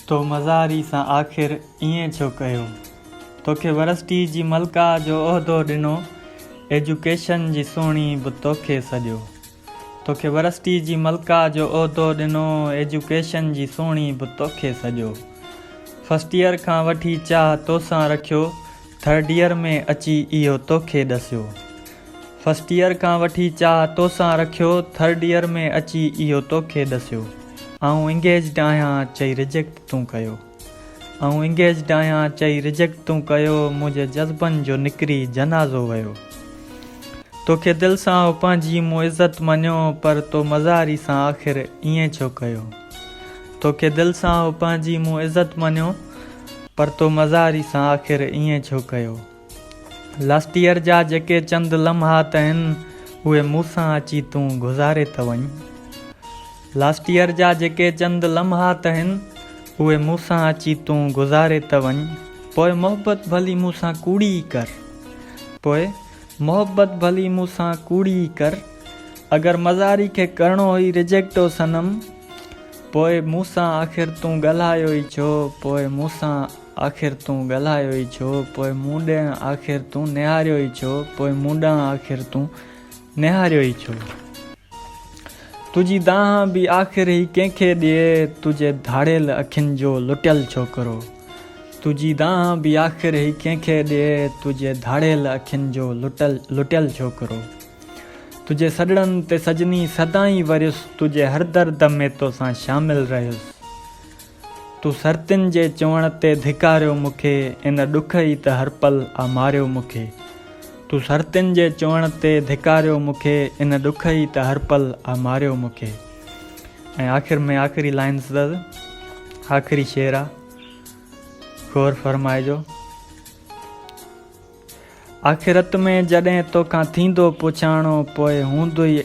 تو مزاري سان آخر ائين ڇو ڪيو؟ توکي ورسٽي جي ملڪه جو عهدو ڏنو، ايجوڪيشن جي سهڻي به توکي سڏيو. توکي ورسٽي جي ملڪه جو عهدو ڏنو، ايجوڪيشن جي سهڻي به توکي سڏيو. فرسٽ ايئر کان وٺي چاهه توسان رکيو، ٿرڊ يير ۾ اچي اهو توکي ڏسيو. فرسٽ يير کان وٺي چاهه توسان رکيو ٿرڊ يير ۾ اچي اهو توکي ڏسيو آئون انگيجڊ آهيان چئي رجيڪٽ تون ڪيو آئون انگيجڊ آهيان چئي رجيڪٽ تون ڪيو منهنجي جذبن جو نڪري جنازو ويو توکي دل سان هو پنهنجي مون عزت مڃيو پر تو مزاري سان آخر ائين ڇو ڪيو. توکي دل سان هو پنهنجي مون عزت مڃيو پر تو مزاري سان آخر ائين ڇو ڪيو. لاسٽيئر جا جيڪي چند لمحات اهن اهي مون سان اچي تون گذاري ته وڃ. لاسٽيئر جا جيڪي چند لمحات اهن اهي مون سان اچي تون گذاري ته وڃ. پوء محبت ڀلي مون سان ڪوڙي ئي ڪر. پوء. محبت ڀلي مون سان ڪوڙي ئي ڪر اگر مزاري کي ڪرڻو هئي ريجيڪٽ او صنم پوء مون سان آخر تون ڳالهايو ئي ڇو پوء مون سان آخر تون ڳالهايو ئي ڇو پوء مون ڏي آخر تون نهاريو ئي ڇو پوء مون ڏانهن آخر تون نهاريو ئي ڇو تنهنجي دانهن به آخر هي ڪنهن کي ڏي تنهنجي ڌاڙيل اکين جو لٽيل ڇوڪرو تنهنجي دانهن به آخر هي ڪنهن کي ڏي تنهنجي ڌاڙيل اکين جو لٽل لٽيل ڇوڪرو تنهنجي سڏڙن تي سڄني سدائين وريس تنهنجي هر درد ۾ توسان شامل رهيس تون سرتين جي چوڻ تي ڌڪاريو مون کي ان ڏک ئي ته هر پل آ ماريو مون کي تون سرتين جي چوڻ تي ڌڪاريو مون کي ان ڏک ئي ته هر پل آ ماريو مون کي ۽ آخر ۾ آخري لائنز اٿس آخري شعر آ غور فرمائجو. آخرت ۾ جڏهن توکان ٿيندو پڇاڻو پوء هوندوئي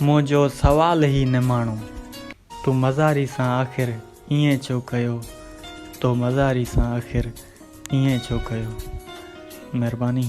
منهنجو سوال هي نماڻو، تون مزاري سان آخر ائين ڇو ڪيو، تو مزاري سان آخر ائين ڇو ڪيو. مهرباني.